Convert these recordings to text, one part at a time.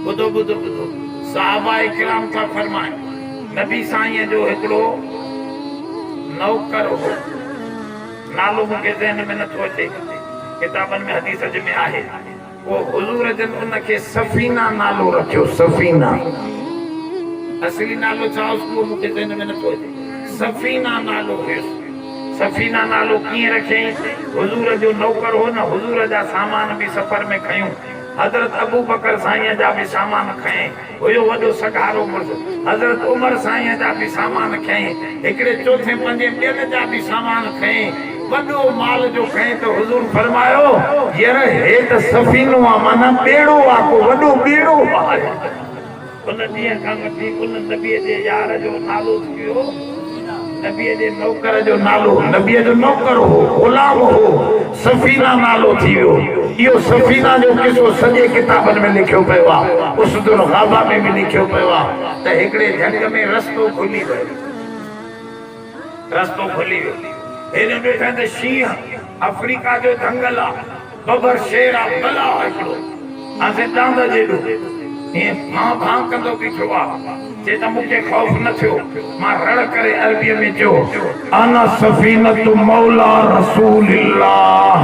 ٻڌو ٻڌو ٻڌو صحابه ڪرام ٿا فرمائن نبي سائين جو هڪڙو نوڪر هو نالو مون کي ذهن ۾ نٿو اچي ڪتابن ۾ حديث جي ۾ آهي پوء حضور جن ان کي سفينه نالو رکيو، سفينه. اصلي نالو ڇا هيس اهو مون کي ذهن ۾ نٿو اچي. سفينه نالو هيس. سفينه نالو ڪيئن رکيائين؟ حضور جو نوڪر هو نه، حضور جا سامان به سفر ۾ کنيون. حضرت ابوبڪر سائينء جا به سامان کنيائين. هيو وڏو سگهارو مڙس حضرت عمر سائينء جا به سامان کنئي، هڪڙي چوٿين پنجين ٻين جا به سامان کنئي، وڏو مال جو کنئي ته حضور فرمايو، ير هي ته سفينو آ معنيٰ ٻيڙو آ، ڪو وڏو ٻيڙو آهي. ان ڏينهن کان وٺي ان نبيء جي يار جو نالو ٿي ويو. نبيء جي نوڪر جو نالو نبيء جو نوڪر هو، غلام هو، سفينه نالو ٿي ويو. اهو سفينه جو قصو سڄي ڪتابن ۾ لکيو پيو آهي. اسد الغابه ۾ به لکيو پيو آهي ته هڪڙي جهنگ ۾ رستو کلي ويو. رستو کلي ويو. هيڏانهن ڏٺائين ته شينهن. آفريڪا جو جهنگل آ ببر شير آ بلا آ هڪڙو آسين ڏاند جيڏو ائين ڀان ڀان ڪندو بيٺو آ چي ته مون کي خوف نه ٿيو مان رڙ ڪري عربي ۾ چيو انا سفينة مولا رسول الله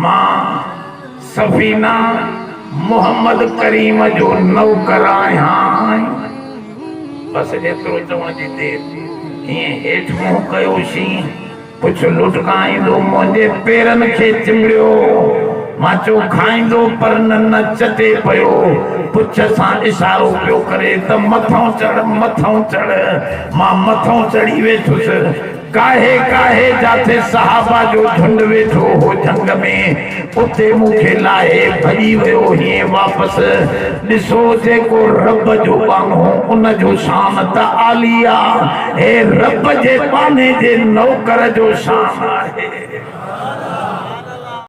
مان سفينه محمد ڪريم جو نوڪر آهيان بس ايترو چوڻ جي دير ائين هيٺ منهن ڪيو شين. پڇ لوٽ کان ايندو منهنجي پيرن کي چنبڙيو ماچو کائيندو پر نه نه چٽي پيو پڇ سان اشارو پيو ڪري ته مٿئون چڙهه مٿئون چڙهه مان مٿئون چڙهي ويٺس ڪاهي ڪاهي جاٿي صحابه جو جهنڊ ويٺو هو جهنگ ۾ اتي مون کي لاهي ڀڄي ويو هئين واپس. ڏسو جيڪو رب جو ٻانهو ان جو شان ته عالي آ. هي رب جي ٻانهي جي نوڪر جو شان آهي.